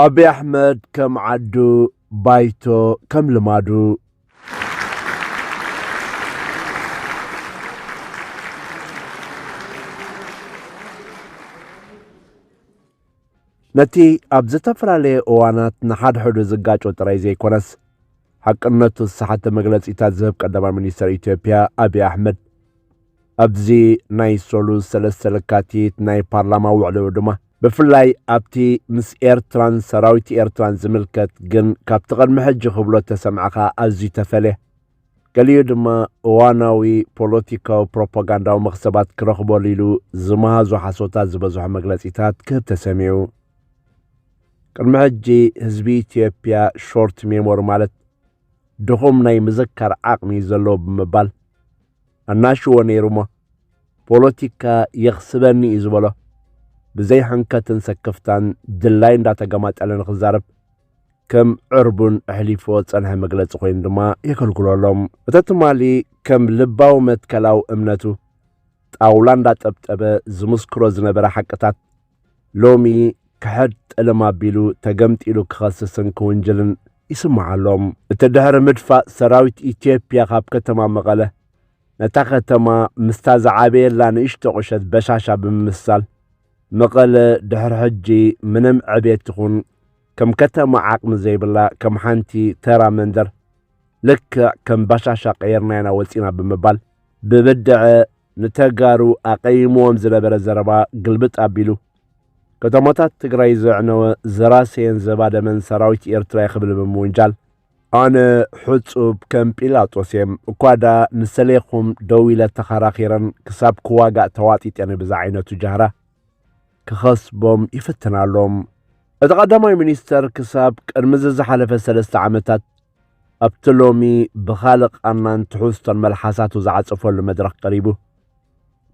ኣቢ ኣሕመድ ከም ዓዱ ባይቶ ከም ልማዱ። ነቲ ኣብ ዝተፈላለየ እዋናት ንሓድሕዱ ዝጋጮ ጥራይ ዘይኮነስ ሓቅነቱ ዝሰሓተ መግለጺታት ዝህብ ቀዳማይ ሚኒስተር ኢትዮጵያ ኣቢ ኣሕመድ ኣብዚ ናይ ሰሉስ ሰለስተ ለካቲት ናይ ፓርላማ ውዕልኡ ድማ ብፍላይ ኣብቲ ምስ ኤርትራን ሰራዊት ኤርትራን ዝምልከት ግን ካብቲ ቅድሚ ሕጂ ክብሎ ተሰምዕኻ ኣዝዩ ተፈልየ ገሊኡ ድማ እዋናዊ ፖለቲካዊ ፕሮፓጋንዳዊ መኽሰባት ክረኽበሉ ኢሉ ዝመሃዞ ሓሶታት ዝበዝሖ መግለጺታት ክህብ ተሰሚዑ ቅድሚ ሕጂ ህዝቢ ኢትዮጵያ ሾርት ሜሞሪ ማለት ድኹም ናይ ምዝካር ዓቕሚ እዩ ዘለዎ ብምባል ኣናሽዎ ነይሩ እሞ ፖለቲካ የኽስበኒ እዩ ዝበሎ ብዘይ ሕንከትን ሰክፍታን ድላይ እንዳተገማጠለ ንክዛረብ ከም ዕርቡን ኣሕሊፎ ጸንሐ መግለጺ ኮይኑ ድማ የገልግሎ ኣሎም እተ ትማሊ ከም ልባዊ መትከላዊ እምነቱ ጣውላ እንዳጠብጠበ ዝምስክሮ ዝነበረ ሓቅታት ሎሚ ክሕድ ጠለም ኣቢሉ ተገምጢሉ ክኸስስን ክውንጅልን ይስማዕ ኣሎ። እቲ ድሕሪ ምድፋእ ሰራዊት ኢትዮጵያ ካብ ከተማ መቐለ ነታ ከተማ ምስታ ዝዓበየላ ንእሽቶ ቁሸት በሻሻ ብምምስሳል መቐለ ድሕሪ ሕጂ ምንም ዕቤት ይኹን ከም ከተማ ዓቕሚ ዘይብላ ከም ሓንቲ ተራ መንደር ልክዕ ከም ባሻሻ ቀይርናይና ወፂና ብምባል ብብድዐ ንተጋሩ ኣቐይምዎም ዝነበረ ዘረባ ግልብጥ ኣቢሉ፣ ከተማታት ትግራይ ዘዕነወ ዘራሰየን ዘባደመን ሰራዊት ኤርትራ'የ ክብል ብምውንጃል፣ ኣነ ሕጹብ ከም ጲላጦስ'የ፣ እኳ ድኣ ንሰሌኹም ደው ኢለ ተኸራኺረን ክሳብ ክዋጋእ ተዋጢጠን'የ ብዝዓይነቱ ጃህራ ክኸስቦም ይፍትን ኣሎ። እቲ ቀዳማይ ሚኒስተር ክሳብ ቅድሚ'ዚ ዝሓለፈ ሰለስተ ዓመታት፣ ኣብቲ ሎሚ ብኻልእ ቃናን ትሕዝቶን መልሓሳቱ ዝዓጸፈሉ መድረኽ ቀሪቡ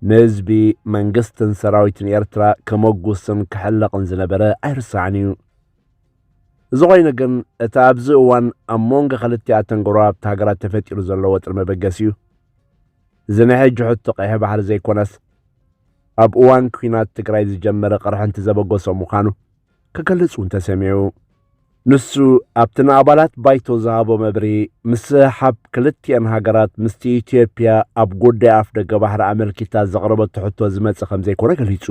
ንህዝቢ መንግስትን ሰራዊትን ኤርትራ ከመጉስን ክሕለቕን ዝነበረ ኣይርሳዕን እዩ። እዚ ኮይኑ ግን እቲ ኣብዚ እዋን ኣብ መንጎ ክልቲኣተን ጎረባብቲ ሃገራት ተፈጢሩ ዘሎ ወጥሪ መበገሲ እዩ። እዚ ናይ ሕጂ ሕቶ ቀይሕ ባሕሪ ዘይኮነስ ኣብ እዋን ኲናት ትግራይ ዝጀመረ ቅርሕንቲ ዘበገሶ ምዃኑ ክገልጽ እውን ተሰሚዑ። ንሱ ኣብቲ ንኣባላት ባይቶ ዝሃቦ መብሪ ምስሕሓብ ክልቲኤን ሃገራት ምስቲ ኢትዮጵያ ኣብ ጉዳይ ኣፍ ደገ ባሕሪ ኣመልኪታ ዘቕረበቶ ሕቶ ዝመጽእ ከም ዘይኮነ ገሊጹ።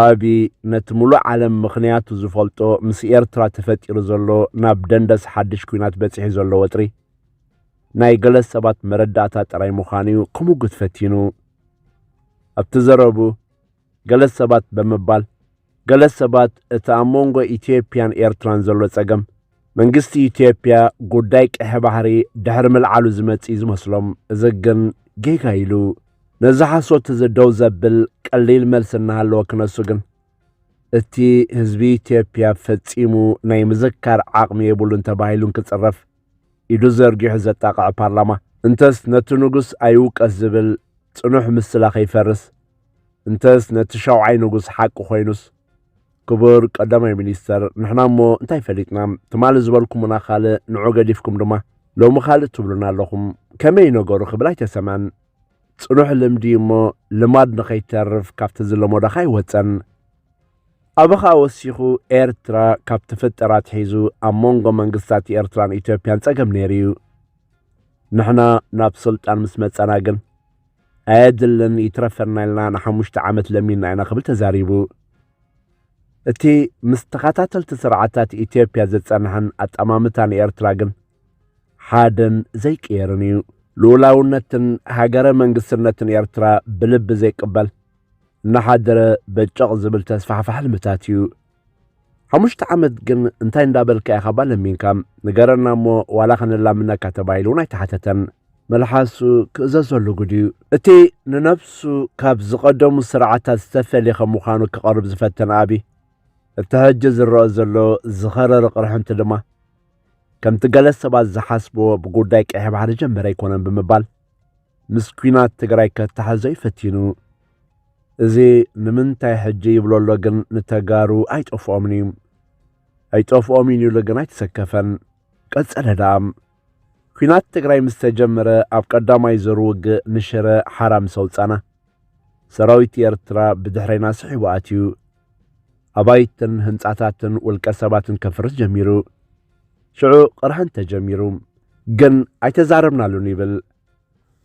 ኣብዪ ነቲ ምሉእ ዓለም ምኽንያቱ ዝፈልጦ ምስ ኤርትራ ተፈጢሩ ዘሎ ናብ ደንደስ ሓድሽ ኲናት በጺሑ ዘሎ ወጥሪ ናይ ገለ ሰባት መረዳእታ ጥራይ ምዃኑ እዩ ክምጉት ፈቲኑ ኣብቲ ዘረቡ ገለ ሰባት ብምባል፣ ገለ ሰባት እቲ ኣብ መንጎ ኢትዮጵያን ኤርትራን ዘሎ ጸገም፣ መንግስቲ ኢትዮጵያ ጉዳይ ቀይሕ ባሕሪ ድሕሪ ምልዓሉ ዝመጽእ እዩ ዝመስሎም። እዚ ግን ጌጋ ኢሉ ነዚ ሓሶት እዚ ደው ዘብል ቀሊል መልሲ እናሃለወ ክነሱ ግን እቲ ህዝቢ ኢትዮጵያ ፈጺሙ ናይ ምዝካር ዓቕሚ የብሉን ተባሂሉን ክጽረፍ ኢዱ ዘርጊሑ ዘጣቕዐ ፓርላማ፣ እንተስ ነቲ ንጉስ ኣይውቀስ ዝብል ጽኑሕ ምስላ ከይፈርስ፣ እንተስ ነቲ ሻውዓይ ንጉስ ሓቂ ኮይኑስ፣ ክቡር ቀዳማይ ሚኒስተር፣ ንሕና እሞ እንታይ ፈሊጥና፣ ትማሊ ዝበልኩሙና ካልእ፣ ንዑ ገዲፍኩም ድማ ሎሚ ካልእ ትብሉና ኣለኹም፣ ከመይ እዩ ነገሩ ክብል ኣይተሰምዐን። ጽኑሕ ልምዲ እሞ ልማድ ንኸይተርፍ ካብቲ ዝለመዶኻ ኣይወጸን። ኣበኻ ወሲኹ ኤርትራ ካብ ተፈጠረ ኣትሒዙ ኣብ መንጎ መንግስታት ኤርትራን ኢትዮጵያን ጸገም ነይሩ እዩ። ንሕና ናብ ስልጣን ምስ መጻና ግን ኣየድልን ይትረፈና ኢልና ንሓሙሽተ ዓመት ለሚንና ኢና ክብል ተዛሪቡ። እቲ ምስ ተኸታተልቲ ስርዓታት ኢትዮጵያ ዝጸንሐን ኣጠማምታ ንኤርትራ ግን ሓደን ዘይቅየርን እዩ። ልኡላውነትን ሃገረ መንግስትነትን ኤርትራ ብልቢ ዘይቅበል፣ እናሓደረ በጨቕ ዝብል ተስፋሕፋሕ ሕልምታት እዩ። ሓሙሽተ ዓመት ግን እንታይ እንዳበልካ ኢኻ እባ ለሚንካ ንገረና እሞ ዋላ ከነላምነካ ተባሂሉ እውን ኣይተሓተተን። መልሓሱ ክእዘዘሉ ግድ እዩ። እቲ ንነብሱ ካብ ዝቐደሙ ስርዓታት ዝተፈልየ ከም ምዃኑ ክቐርብ ዝፈተነ ኣብይ እቲ ሕጂ ዝረአ ዘሎ ዝኸረረ ቅርሕንቲ ድማ ከምቲ ገለ ሰባት ዝሓስብዎ ብጉዳይ ቀይሕ ባሕሪ ጀመረ ኣይኮነን ብምባል ምስ ኲናት ትግራይ ከተሓዞ ይፈቲኑ እዚ ንምንታይ ሕጂ ይብሎ ኣሎ ግን ንተጋሩ ኣይጠፍኦምን እዩ ኣይጠፍኦምን ኢሉ ግን ኣይተሰከፈን ቀጸለ ደኣ ኲናት ትግራይ ምስ ተጀመረ ኣብ ቀዳማይ ዞር ውግእ ንሽረ ሓራ ምስ ኣውጻና ሰራዊት ኤርትራ ብድሕረና ስሒቡ ኣትዩ ኣባይትን ህንጻታትን ውልቀ ሰባትን ከፍርስ ጀሚሩ ሽዑ ቅርሕን ተጀሚሩ ግን ኣይተዛረብናሉን ይብል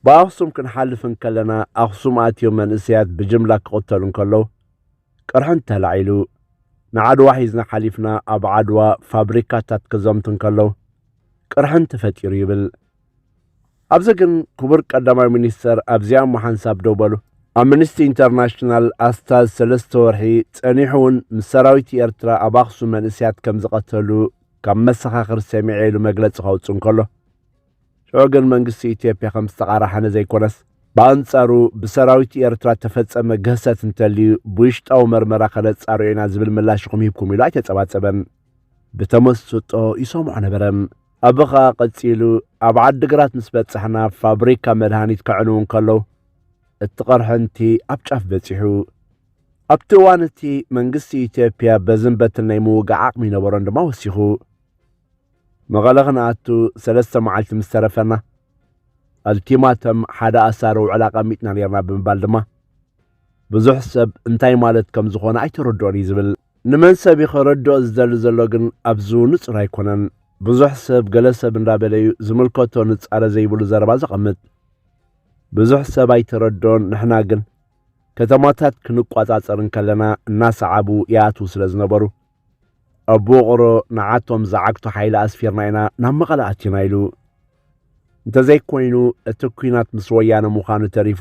ብኣኽሱም ክንሓልፍ እንከለና ኣኽሱም ኣትዮም መንእሰያት ብጅምላ ክቕተሉ እንከለዉ ቅርሕንቲ ተላዒሉ። ንዓድዋ ሒዝና ሓሊፍና ኣብ ዓድዋ ፋብሪካታት ክዘምቱ እንከለዉ ቅርሕንቲ ተፈጢሩ ይብል። ኣብዚ ግን ክቡር ቀዳማይ ሚኒስተር ኣብዚኣ እሞ ሓንሳብ ደው በሉ። ኣምንስቲ ኢንተርናሽናል ኣስታት ሰለስተ ወርሒ ጸኒሑ እውን ምስ ሰራዊት ኤርትራ ኣብ ኣኽሱም መንእሰያት ከም ዝቐተሉ ካብ መሰኻኽር ሰሚዐ ኢሉ መግለጺ ከውጽእ እንከሎ ሽዑ ግን መንግስቲ ኢትዮጵያ ከም ዝተቓራሓነ ዘይኮነስ፣ ብኣንጻሩ ብሰራዊት ኤርትራ እተፈጸመ ግህሰት እንተልዩ ብውሽጣዊ መርመራ ከነጻርዮ ኢና ዝብል ምላሽ ኢኹም ሂብኩም ኢሉ ኣይተጸባጸበን። ብተመስጦ ይሰምዖ ነበረ። ኣቢ ከኣ ቀጺሉ፣ ኣብ ዓዲግራት ምስ በጻሕና ፋብሪካ መድሃኒት ከዕንዉ እንከለዉ፣ እቲ ቅርሕንቲ ኣብ ጫፍ በጺሑ። ኣብቲ እዋን እቲ መንግስቲ ኢትዮጵያ በዝን በትን ናይ ምውጋእ ዓቕሚ ይነበሮን ድማ ወሲኹ። መቐለ ክንኣቱ ሰለስተ መዓልቲ ምስ ተረፈና ኣልቲማተም ሓደ ኣሳሪ ውዕል ኣቐሚጥና ነርና ብምባል ድማ ብዙሕ ሰብ እንታይ ማለት ከም ዝኾነ ኣይተረድኦን እዩ ዝብል ንመን ሰብ እዩ ከረድኦ ዝደሊ ዘሎ ግን ኣብዚ ንጹር ኣይኮነን ብዙሕ ሰብ ገለ ሰብ እንዳበለ እዩ ዝምልከቶ ንጻረ ዘይብሉ ዘረባ ዘቐምጥ ብዙሕ ሰብ ኣይተረድኦን ንሕና ግን ከተማታት ክንቋጻጸር እንከለና እናሰዓቡ ይኣትዉ ስለ ዝነበሩ ኣብ ውቕሮ ንዓቶም ዝዓግቱ ሓይሊ ኣስፊርና ኢና ናብ መቐለ ኣቲና ኢሉ እንተዘይኮይኑ እቲ ኩናት ምስ ወያነ ምዃኑ ተሪፉ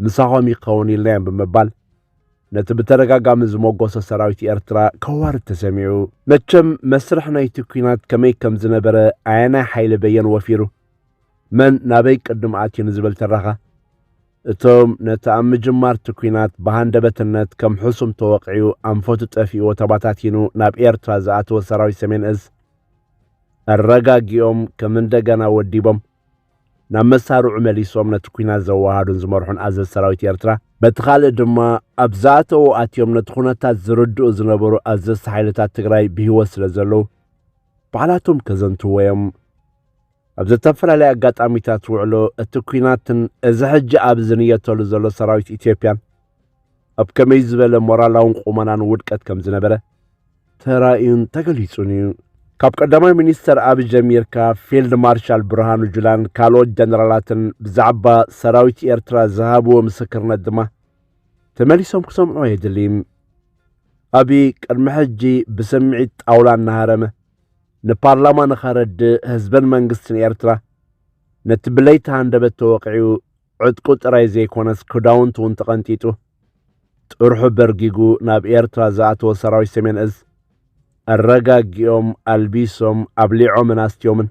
ምሳኾም ይኸውን ኢልናዮም ብምባል ነቲ ብተደጋጋሚ ዝመጎሰ ሰራዊት ኤርትራ ከዋርድ ተሰሚዑ። መቸም መስርሕ ናይቲ ኩናት ከመይ ከም ዝነበረ ኣየናይ ሓይሊ በየን ወፊሩ መን ናበይ ቅድም ኣትዩ ንዝብል ትረኻ፣ እቶም ነቲ ኣብ ምጅማር'ቲ ኲናት ብሃንደበትነት ከም ሕሱም ተወቒዑ ኣንፈቱ ጠፊእዎ ተባታቲኑ ናብ ኤርትራ ዝኣተወ ሰራዊት ሰሜን እዝ ኣረጋጊኦም ከም እንደገና ወዲቦም ናብ መሳርዑ መሊሶም ነቲ ኲናት ዘወሃዱን ዝመርሑን ኣዘዝ ሰራዊት ኤርትራ በቲ ካልእ ድማ ኣብ ዝኣተዉ ኣትዮም ነቲ ኩነታት ዝርድኡ ዝነበሩ ኣዘዝቲ ሓይልታት ትግራይ ብህይወት ስለ ዘለዉ ባዕላቶም ከዘንትዎ እዮም። ኣብ ዝተፈላለየ ኣጋጣሚታት ውዕሎ እቲ ኩናትን እዚ ሕጂ ኣብ ዝንየተሉ ዘሎ ሰራዊት ኢትዮጵያን ኣብ ከመይ ዝበለ ሞራላውን ቁመናን ውድቀት ከም ዝነበረ ተራእዩን ተገሊጹን እዩ። ካብ ቀዳማይ ሚኒስተር ኣብ ጀሚርካ ፊልድ ማርሻል ብርሃኑ ጁላን ካልኦት ጀነራላትን ብዛዕባ ሰራዊት ኤርትራ ዝሃብዎ ምስክርነት ድማ ተመሊሶም ክሰምዑ የድልይም። ኣብይ ቅድሚ ሕጂ ብስምዒት ጣውላ እናሃረመ ንፓርላማ ንኸረድእ ህዝበን መንግስትን ኤርትራ ነቲ ብለይቲ ሃንደበት ተወቂዑ ዕጥቁ ጥራይ ዘይኮነስ ክዳውንቱ እውን ተቐንጢጡ ጥርሑ በርጊጉ ናብ ኤርትራ ዝኣተወ ሰራዊት ሰሜን እዝ ኣረጋጊኦም ኣልቢሶም ኣብሊዖምን ኣስትዮምን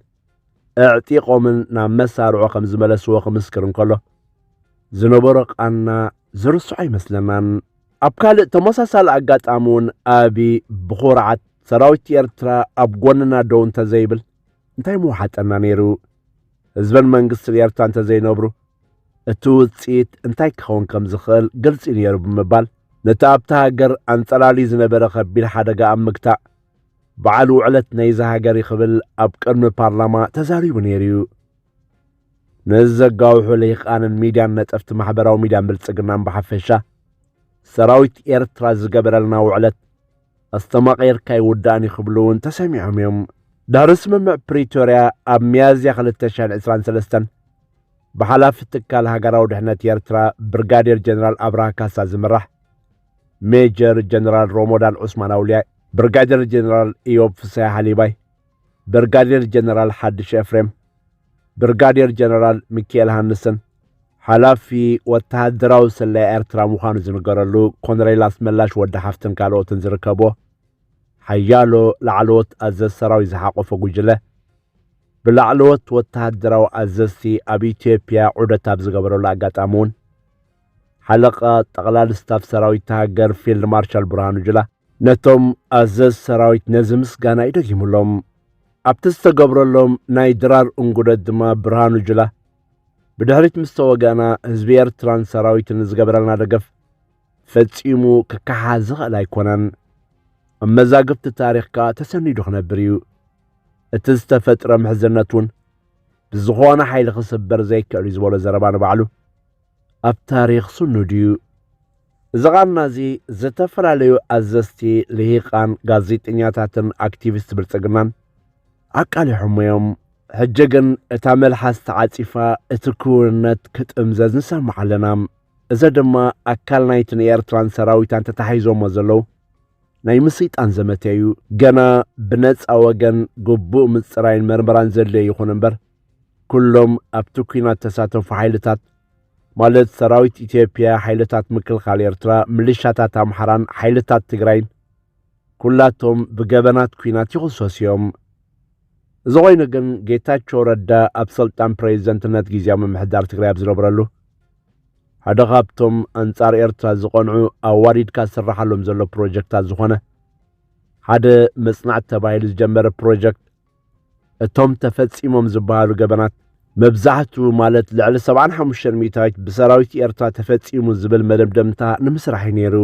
ኣዕጢቖምን ናብ መሳርዖ ከም ዝመለስዎ ክምስክር እንከሎ ዝነበሮ ቃና ዝርስዖ ኣይመስለናን። ኣብ ካልእ ተመሳሳሊ ኣጋጣሚ እውን ኣቢ ብኹርዓት ሰራዊት ኤርትራ ኣብ ጎንና ደው እንተዘይብል እንታይ ምውሓጠና ነይሩ? ህዝብን መንግስትን ኤርትራ እንተዘይነብሩ እቲ ውፅኢት እንታይ ክኸውን ከም ዝኽእል ግልፂ ነይሩ ብምባል ነቲ ኣብታ ሃገር ኣንፀላሊ ዝነበረ ከቢድ ሓደጋ ኣብ ምግታእ በዓል ውዕለት ናይዚ ሃገር ክብል ኣብ ቅድሚ ፓርላማ ተዛሪቡ ነይሩ እዩ። ነዚ ዘጋውሑ ልሂቃንን ሚድያን ነጠፍቲ ማሕበራዊ ሚድያን ብልጽግናን ብሓፈሻ ሰራዊት ኤርትራ ዝገበረልና ውዕለት ኣስተማቒርካ ይውዳእን እዩ ክብሉ እውን ተሰሚዖም እዮም። ድሕሪ ስምምዕ ፕሪቶርያ ኣብ ሚያዝያ 2023 ብሓላፊ ትካል ሃገራዊ ድሕነት ኤርትራ ብርጋዴር ጀነራል ኣብርሃ ካሳ ዝምራሕ ሜጀር ጀነራል ሮሞዳን ዑስማን ኣውልያይ፣ ብርጋዴር ጀነራል ኢዮብ ፍስሃ ሓሊባይ፣ ብርጋዴር ጀነራል ሓድሽ ኤፍሬም፣ ብርጋዴር ጀነራል ሚካኤል ሃንስን ሓላፊ ወተሃደራዊ ስለያ ኤርትራ ምዃኑ ዝንገረሉ ኮነሬል ኣስመላሽ ወዲ ሓፍትን ካልኦትን ዝርከቦ ሓያሎ ላዕለዎት ኣዘዝ ሰራዊት ዝሓቆፈ ጉጅለ ብላዕለዎት ወተሃደራዊ ኣዘዝቲ ኣብ ኢትዮጵያ ዑደት ኣብ ዝገበረሉ ኣጋጣሚ እውን ሓለቓ ጠቕላሊ ስታፍ ሰራዊት ሃገር ፊልድ ማርሻል ብርሃኑ ጅላ ነቶም ኣዘዝ ሰራዊት ነዚ ምስጋና እዩ ደጊሙሎም። ኣብቲ ዝተገብረሎም ናይ ድራር እንጉደት ድማ ብርሃኑ ጅላ ብድሕሪት ምስ ተወጋእና ህዝቢ ኤርትራን ሰራዊትን ዝገበረልና ደገፍ ፈጺሙ ክከሓስ ዝኽእል ኣይኮነን። ኣብ መዛግብቲ ታሪኽ ከኣ ተሰኒዱ ክነብር እዩ። እቲ ዝተፈጥረ ምሕዝነት እውን ብዝኾነ ሓይሊ ክስበር ዘይክእል እዩ ዝበሎ ዘረባ ንባዕሉ ኣብ ታሪኽ ስኑድ እዩ። እዚ ቓና እዚ ዝተፈላለዩ ኣዘዝቲ ልሂቃን ጋዜጠኛታትን ኣክቲቪስት ብልጽግናን ኣቃሊሖሞ እዮም። ሕጂ ግን እታ መልሓስ ተዓጺፋ እቲ ክውንነት ክጥምዘዝ ንሰምዕ ኣለና። እዚ ድማ ኣካል ናይቲ ንኤርትራን ሰራዊታን ተታሒዞሞ ዘለዉ ናይ ምስይጣን ዘመተ እዩ። ገና ብነጻ ወገን ግቡእ ምጽራይን መርመራን ዘድልዮ ይኹን እምበር ኩሎም ኣብቲ ኲናት ተሳተፉ ሓይልታት ማለት ሰራዊት ኢትዮጵያ፣ ሓይልታት ምክልኻል ኤርትራ፣ ምልሻታት ኣምሓራን ሓይልታት ትግራይን ኩላቶም ብገበናት ኲናት ይኽሰሱ እዮም። እዚ ኮይኑ ግን ጌታቸው ረዳ ኣብ ስልጣን ፕሬዚደንትነት ግዜያዊ ምምሕዳር ትግራይ ኣብ ዝነበረሉ ሓደ ካብቶም ኣንጻር ኤርትራ ዝቐንዑ ኣዋዲድካ ዝስራሓሎም ዘሎ ፕሮጀክታት ዝኾነ ሓደ መጽናዕቲ ተባሂሉ ዝጀመረ ፕሮጀክት እቶም ተፈጺሞም ዝበሃሉ ገበናት መብዛሕቱ ማለት ልዕሊ 75 ሚእታዊት ብሰራዊት ኤርትራ ተፈጺሙ ዝብል መደምደምታ ንምስራሕ እዩ ነይሩ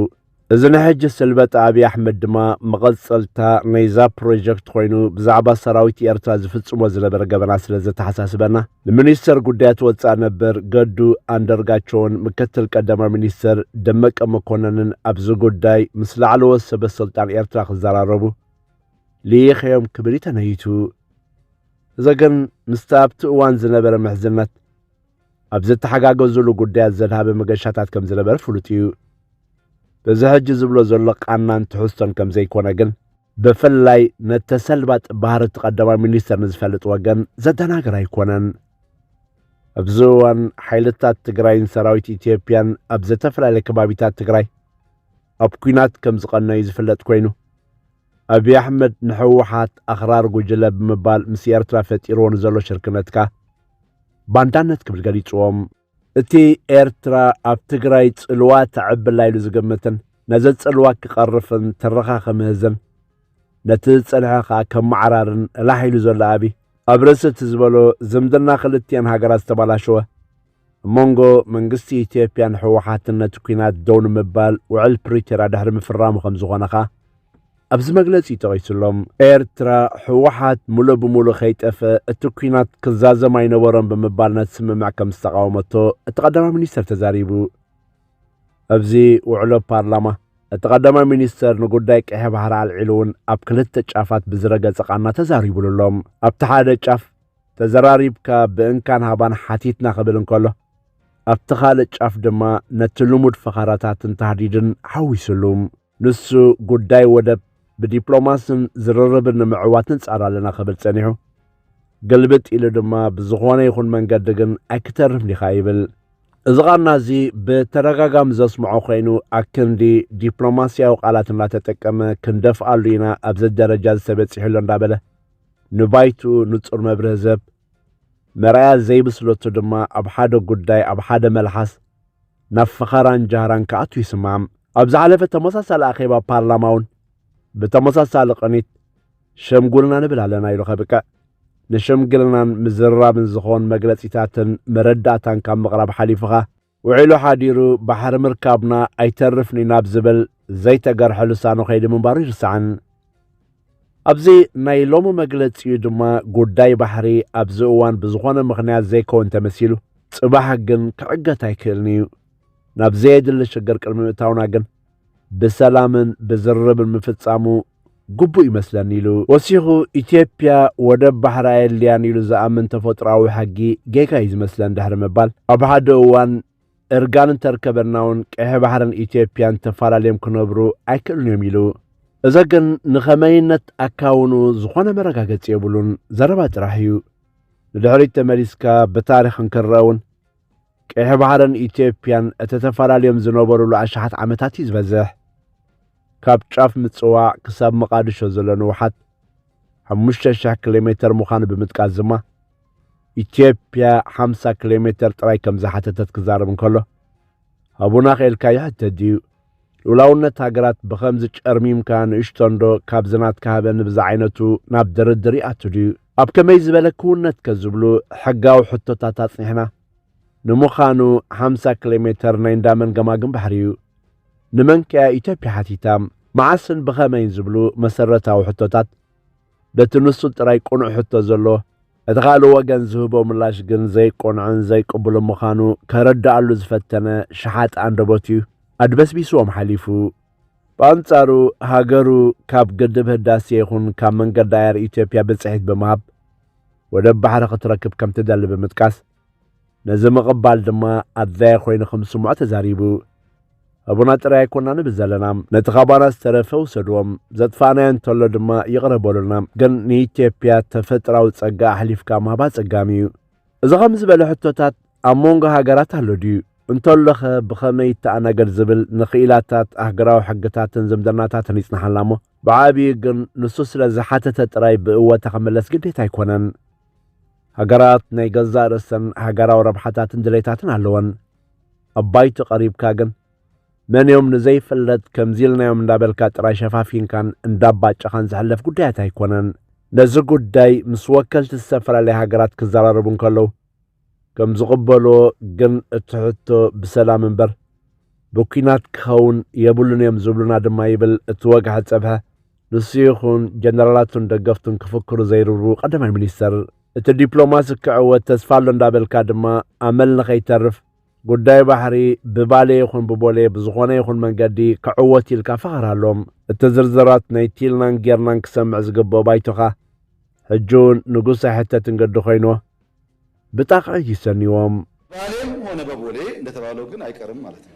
እዚ ንሕጂ ስልበጥ ኣብዪ ኣሕመድ ድማ መቐጸልታ ናይዛ ፕሮጀክት ኮይኑ ብዛዕባ ሰራዊት ኤርትራ ዝፍጽሞ ዝነበረ ገበና ስለ ዘተሓሳስበና ንሚኒስተር ጉዳያት ወፃኢ ነበር ገዱ ኣንደርጋቸውን ምክትል ቀዳማዊ ሚኒስተር ደመቀ መኮነንን ኣብዚ ጉዳይ ምስ ላዕለዎት ሰበስልጣን ኤርትራ ክዘራረቡ ልኢኸዮም ክብል እዩ ተመይቱ። እዚ ግን ምስቲ ኣብቲ እዋን ዝነበረ ምሕዝነት ኣብ ዘተሓጋገዙሉ ጉዳያት ዘድሃበ መገሻታት ከም ዝነበረ ፍሉጥ እዩ። በዚ ሕጂ ዝብሎ ዘሎ ቃናን ትሕዝቶን ከም ዘይኮነ ግን ብፍላይ ነተሰልባጥ ባህሪ እቲ ቀዳማይ ሚኒስተር ንዝፈልጥ ወገን ዘደናግር ኣይኮነን። ኣብዚ እዋን ሓይልታት ትግራይን ሰራዊት ኢትዮጵያን ኣብ ዝተፈላለየ ከባቢታት ትግራይ ኣብ ኲናት ከም ዝቐነዩ ዝፍለጥ ኮይኑ ኣብይ ኣሕመድ ንሕወሓት ኣኽራር ጉጅለ ብምባል ምስ ኤርትራ ፈጢርዎ ንዘሎ ሽርክነት ከኣ ባንዳነት ክብል ገሊጽዎም። እቲ ኤርትራ ኣብ ትግራይ ጽልዋ ተዕብላ ኢሉ ዝግምትን ነዚ ጽልዋ ክቐርፍን ትረኻ ክምህዝን ነቲ ዝጸንሐ ከኣ ከመዓራርን እላሕ ኢሉ ዘሎ ኣብይ፣ ኣብ ርእሲ እቲ ዝበሎ ዝምድና ክልቲኤን ሃገራት ዝተባላሸወ፣ ኣብ መንጎ መንግስቲ ኢትዮጵያን ህወሓትን ነቲ ኲናት ደው ንምባል ውዕል ፕሪቶርያ ድሕሪ ምፍራሙ ከም ዝኾነ ኸኣ ኣብዚ መግለጺ ጠቒሱሎም። ኤርትራ ህወሓት ሙሉእ ብሙሉእ ከይጠፍአ እቲ ኲናት ክዛዘም ኣይነበሮን ብምባል ነቲ ስምምዕ ከም ዝተቓወመቶ እቲ ቀዳማይ ሚኒስተር ተዛሪቡ። ኣብዚ ውዕሎ ፓርላማ እቲ ቀዳማይ ሚኒስተር ንጉዳይ ቀይሕ ባሕሪ ኣልዒሉ እውን ኣብ ክልተ ጫፋት ብዝረገጸ ቃና ተዛሪቡሉ ኣሎ። ኣብቲ ሓደ ጫፍ ተዘራሪብካ ብእንካን ሃባን ሓቲትና ክብል እንከሎ ኣብቲ ካልእ ጫፍ ድማ ነቲ ልሙድ ፈኸራታትን ታህዲድን ሓዊሱሉ ንሱ ጉዳይ ወደብ ብዲፕሎማስን ዝርርብን ንምዕዋት ንጻር ኣለና ክብል ጸኒሑ ግልብጥ ኢሉ ድማ ብዝኾነ ይኹን መንገዲ ግን ኣይክተርፍን ኢኻ ይብል እዚ ቃና እዚ ብተደጋጋሚ ዘስምዖ ኮይኑ ኣክንዲ ዲፕሎማስያዊ ቃላት እናተጠቀመ ክንደፍኣሉ ኢና ኣብዚ ደረጃ ዝተበፂሕሎ እንዳበለ ንባይትኡ ንጹር መብርህ ዘብ መርኣያ ዘይብስለቱ ድማ ኣብ ሓደ ጉዳይ ኣብ ሓደ መልሓስ ናብ ፈኸራን ጃህራን ክኣቱ ይስማም ኣብ ዝሓለፈ ተመሳሳሊ ኣኼባ ፓርላማ እውን ብተመሳሳሊ ቅኒት ሸምጉልና ንብል ኣለና ኢሉ ከብቅዕ ንሸምግልናን ምዝርራብን ዝኾን መግለጺታትን መረዳእታን ካብ ምቕራብ ሓሊፉኻ ውዒሉ ሓዲሩ ባሕሪ ምርካብና ኣይተርፍን'ዩ ናብ ዝብል ዘይተገርሐ ልሳኑ ከይዲ ምንባሩ ኣይርሳዕን። ኣብዚ ናይ ሎሚ መግለጺኡ ድማ ጉዳይ ባሕሪ ኣብዚ እዋን ብዝኾነ ምኽንያት ዘይከውን ተመሲሉ ጽባሕ ግን ክዕገት ኣይክእልን'ዩ። ናብ ዘየድሊ ሽግር ቅድሚ ምእታውና ግን ብሰላምን ብዝርርብን ምፍጻሙ ግቡእ ይመስለኒ ኢሉ። ወሲኹ ኢትዮጵያ ወደብ ባሕሪ ኣየድልያን ኢሉ ዝኣምን ተፈጥሮኣዊ ሕጊ ጌጋ እዩ ዝመስለን ድሕሪ ምባል ኣብ ሓደ እዋን እርጋን እንተርከበና እውን ቀይሕ ባሕርን ኢትዮጵያን ተፈላለዮም ክነብሩ ኣይክእሉን እዮም ኢሉ። እዚ ግን ንኸመይነት ኣካውኑ ዝኾነ መረጋገፂ የብሉን፣ ዘረባ ጥራሕ እዩ። ንድሕሪት ተመሊስካ ብታሪኽ እንክረእ እውን ቀይሕ ባሕርን ኢትዮጵያን እቲ ተፈላልዮም ዝነበሩሉ ኣሽሓት ዓመታት እዩ ዝበዝሕ። ካብ ጫፍ ምጽዋ ክሳብ መቓድሾ ዘሎ ንውሓት ሓሙሽተ ሽሕ ኪሎ ሜተር ምዃኑ ብምጥቃስ ድማ ኢትዮጵያ ሓምሳ ኪሎ ሜተር ጥራይ ከም ዝሓተተት ክዛረብ እንከሎ ሃቡና ክኢልካ ይሕተት ድዩ ሉላውነት ሃገራት ብኸምዚ ጨርሚምካ ንእሽቶንዶ ካብዚ ናትካ ሃበኒ ብዝዓይነቱ ናብ ድርድር ይኣቱ ድዩ? ኣብ ከመይ ዝበለ ክውነትከ ዝብሉ ሕጋዊ ሕቶታት ኣጽኒሕና። ንምዃኑ ሓምሳ ክሌሜተር ናይ እንዳመን ገማግም ባሕሪ'ዩ? ንመንከ'ያ ኢትዮጵያ ሓቲታ? መዓስን ብኸመይን ዝብሉ መሰረታዊ ሕቶታት፣ በቲ ንሱ ጥራይ ቅኑዕ ሕቶ ዘሎ፣ እቲ ካልእ ወገን ዝህቦ ምላሽ ግን ዘይቅኑዕን ዘይቅቡልን ምዃኑ ከረድኣሉ ዝፈተነ ሸሓጢ ኣንደበት'ዩ ኣድበስቢስዎም ሓሊፉ። ብኣንጻሩ ሃገሩ ካብ ግድብ ህዳሴ ይኹን ካብ መንገዲ ኣየር ኢትዮጵያ ብጽሒት ብምሃብ ወደብ ባሕሪ ክትረክብ ከምትደሊ ብምጥቃስ፣ ነዚ ምቕባል ድማ ኣድላዪ ኮይኑ ከም ዝስምዖ ተዛሪቡ። ህቡና ጥራይ ኣይኮና ንብል ዘለና፣ ነቲ ካባና ዝተረፈ ውሰድዎ፣ ዘጥፋእናዮ እንተሎ ድማ ይቕረ በሉልና፣ ግን ንኢትዮጵያ ተፈጥራዊ ጸጋ ኣሕሊፍካ ምሃብ ኣጸጋሚ እዩ። እዚ ከምዚ ዝበለ ሕቶታት ኣብ መንጎ ሃገራት ኣሎ ድዩ? እንተሎኸ ብኸመይ ይተኣናገድ ዝብል ንክኢላታት ኣህግራዊ ሕግታትን ዝምድናታትን ይጽንሓልና እሞ ብዓብዩ ግን ንሱ ስለ ዝሓተተ ጥራይ ብእወታ ክምለስ ግዴታ ኣይኮነን። ሃገራት ናይ ገዛእ ርእሰን ሃገራዊ ረብሓታትን ድሌታትን ኣለወን። ኣብ ባይቶ ቀሪብካ ግን መንዮም ንዘይፍለጥ ከምዚ ኢልናዮም እንዳበልካ ጥራይ ሸፋፊንካን እንዳባጨኻን ዝሕለፍ ጉዳያት ኣይኮነን። ነዚ ጉዳይ ምስ ወከልቲ ዝተፈላለያ ሃገራት ክዘራረቡ እንከለዉ ከም ዝቕበልዎ ግን እቲ ሕቶ ብሰላም እምበር ብኲናት ክኸውን የብሉን እዮም ዝብሉና ድማ ይብል እቲ ወግሐ ጸብሐ ንሱ ይኹን ጀነራላቱን ደገፍቱን ክፍክሩ ዘይርሩ ቀዳማይ ሚኒስተር እቲ ዲፕሎማሲ ክዕወት ተስፋ ኣሎ እንዳበልካ ድማ ኣመል ንኸይተርፍ ጉዳይ ባሕሪ ብባሌ ይኹን ብቦሌ ብዝኾነ ይኹን መንገዲ ክዕወት ኢልካ ፈኸራሎም እቲ ዝርዝራት ናይ ቲልናን ጌርናን ክሰምዕ ዝግብኦ ባይቶኻ ሕጂ እውን ንጉስ ኣይሕተትን ገዲ ኮይኑ ብጣቕዒት ይሰንዎም ባሌም ሆነ በቦሌ እንደተባለው ግን ኣይቀርም ማለት ነው።